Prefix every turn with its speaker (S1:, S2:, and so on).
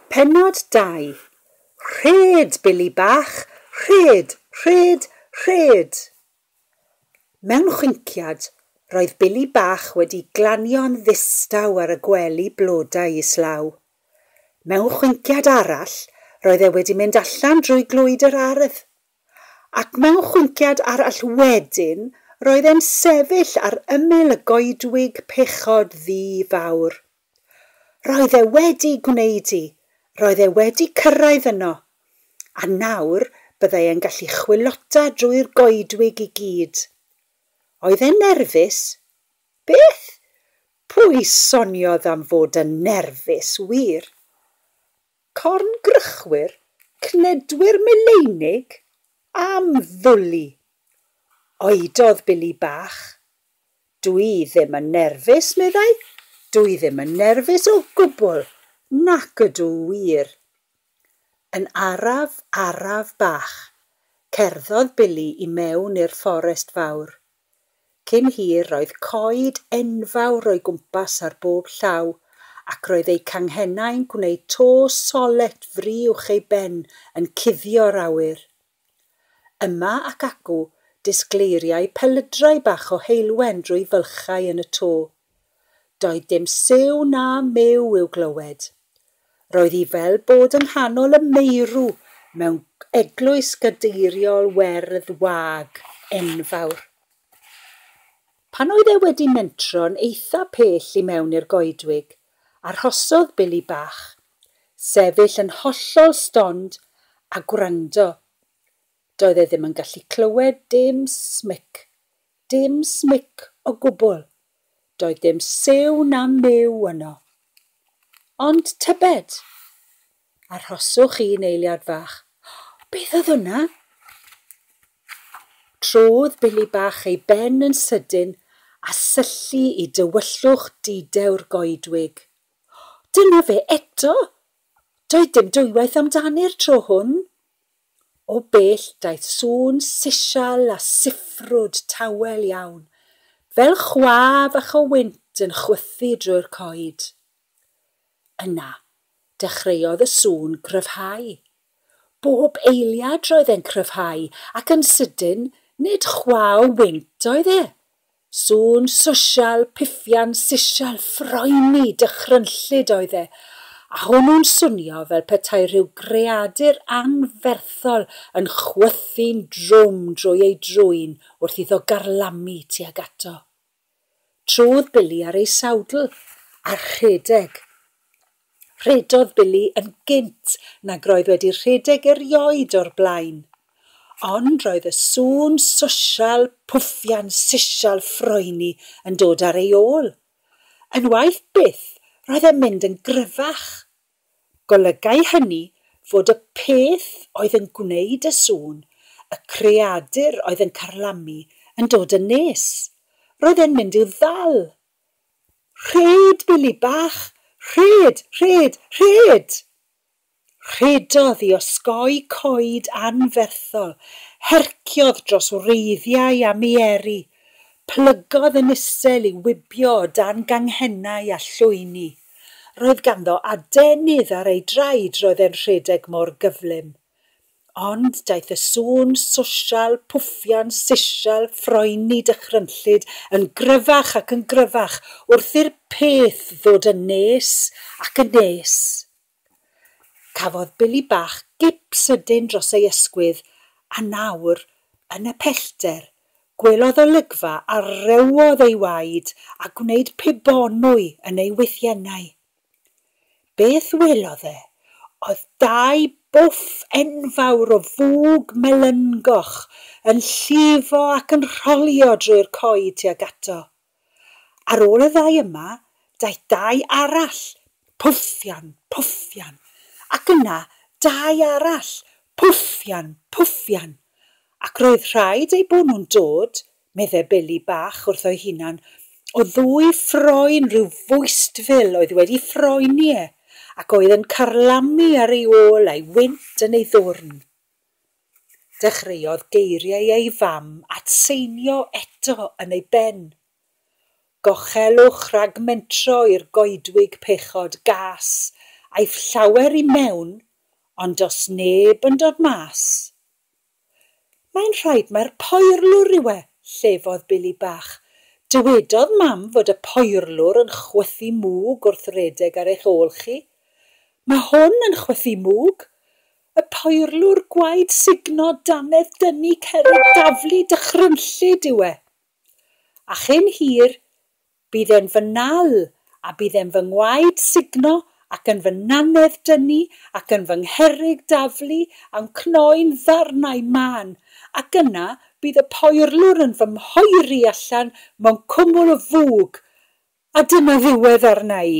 S1: Pennod 2, Rhed, Billy Bach, rhed, rhed, rhed! Mewn chwinciad, roedd Billy Bach wedi glanio'n ddistaw ar y gwely blodau islaw. Mewn chwinciad arall, roedd e wedi mynd allan drwy glwyd yr ardd. Ac mewn chwinciad arall wedyn, roedd e'n sefyll ar ymyl y goedwig pechod ddu fawr. Roedd e wedi gwneud 'i, roedd e wedi cyrraedd yno. A nawr byddai e'n gallu chwilota drwy'r goedwig i gyd. Oedd e'n nerfus? Beth? Pwy soniodd am fod yn nerfus, wir? Corngrychwyr, cnedwyr meleinig, am ddwli! oedodd Billy bach. Dw i ddim yn nerfus, meddai, dw i ddim yn nerfus o gwbl, nac ydw wir. Yn araf, araf bach, cerddodd Billy i mewn i'r fforest fawr. Cyn hir roedd coed enfawr o'i gwmpas ar bob llaw, ac roedd eu canghennau'n gwneud to solet fri uwch ei ben yn cuddio'r awyr. Yma ac acw, disgleiriai pelydrau bach o heulwen drwy fylchau yn y to. Doedd dim siw na miw i'w glywed. Roedd hi fel bod yng nghanol y meirw mewn eglwys gadeiriol werdd wag enfawr. Pan oedd e wedi mentro'n eitha pell i mewn i'r goedwig, arhosodd Billy bach, sefyll yn hollol stond a gwrando. Doedd e ddim yn gallu clywed dim smic, dim smic o gwbl, Doedd dim siw na myw yno. Ond tybed? Arhoswch un eiliad fach. Beth oedd hwnna? Trodd Billy Bach ei ben yn sydyn a syllu i dywyllwch di-dewr goedwig. Dyna fe eto! Doedd dim dwywaith amdani'r tro hwn. O bell daeth sŵn sisial a siffrwd tawel iawn, fel chwa fach o wynt yn chwythu drwy'r coed. Yna, dechreuodd y sŵn gryfhau. Bob eiliad roedd e'n cryfhau, ac yn sydyn, nid chwa o wynt oedd e, Sŵn sosial, pifian, sisial, ffroeni, dychrynllyd oedd e, a hwnnw'n swnio fel petai rhyw greadur anferthol yn chwythu'n drwm drwy ei drwyn wrth iddo garlamu tuag ato. Truodd Billy ar ei sawdl a rhedeg. Rhedodd Billy yn gynt nag roedd wedi rhedeg erioed o'r blaen. Ond roedd y sŵn sosial, pwffian sisial ffroeni yn dod ar ei ôl. Unwaith byth, roedd e'n mynd yn gryfach. Golygai hynny fod y peth oedd yn gwneud y sŵn, y creadur oedd yn carlamu, yn dod yn nes. Roedd e'n mynd i'w ddal! Rhed, Billy bach! Rhed! Rhed! Rhed! Rhedodd i osgoi coed anferthol, herciodd dros wreiddiau a mieri, plygodd yn isel i wibio o dan ganghennau a llwyni. Roedd ganddo adenydd ar ei draed roedd e'n rhedeg mor gyflym. Ond daeth y sŵn sosial, pwffian, sisial, ffroeni, dychrynllyd, yn gryfach ac yn gryfach wrth i'r peth ddod yn nes ac yn nes. Cafodd Billy bach gip sydyn dros ei ysgwydd, a nawr, yn y pellter, gwelodd olygfa a rhewodd ei waed a gwneud pibonwy yn ei wythiennau. Beth welodd e oedd dau bwff enfawr o fwg melyngoch yn llifo ac yn rholio drwy'r coed tuag ato. Ar ôl y ddau yma, daeth dau arall, pwffian, pwffian, ac yna dau arall, pwffian, pwffian, ac roedd rhaid eu bod nhw'n dod meddai Billy bach wrtho'i hunan, o ddwy ffroen rhyw fwystfil oedd wedi ffroeni e, ac oedd yn carlamu ar ei ôl a'i wynt yn ei ddwrn. Dechreuodd geiriau ei fam atseinio eto yn ei ben. Gochelwch rhag mentro i'r goedwig pechod gas, aiff llawer i mewn, ond do's neb yn dod mas. Mae'n rhaid mae'r poerlwr rywe, llefodd Billy bach. Dywedodd Mam fod y poerlwr yn chwythu mwg wrth redeg ar eich ôl chi. Mae hwn yn chwythu mwg! Y poerlwr gwaed sugno, dannedd dynnu, cerrig daflu, dychrynllyd yw e. A chyn hir, Bydd e'n fy nal, a bydd e'n fy ngwaed sugno, ac yn fy nannedd dynnu, ac yn fy ngherrig daflu, a'm cnoi'n ddarnau mân. Ac yna bydd y poerlwr yn fy mhoeri allan mewn cwmwl o fwg, a dyna ddiwedd arna i.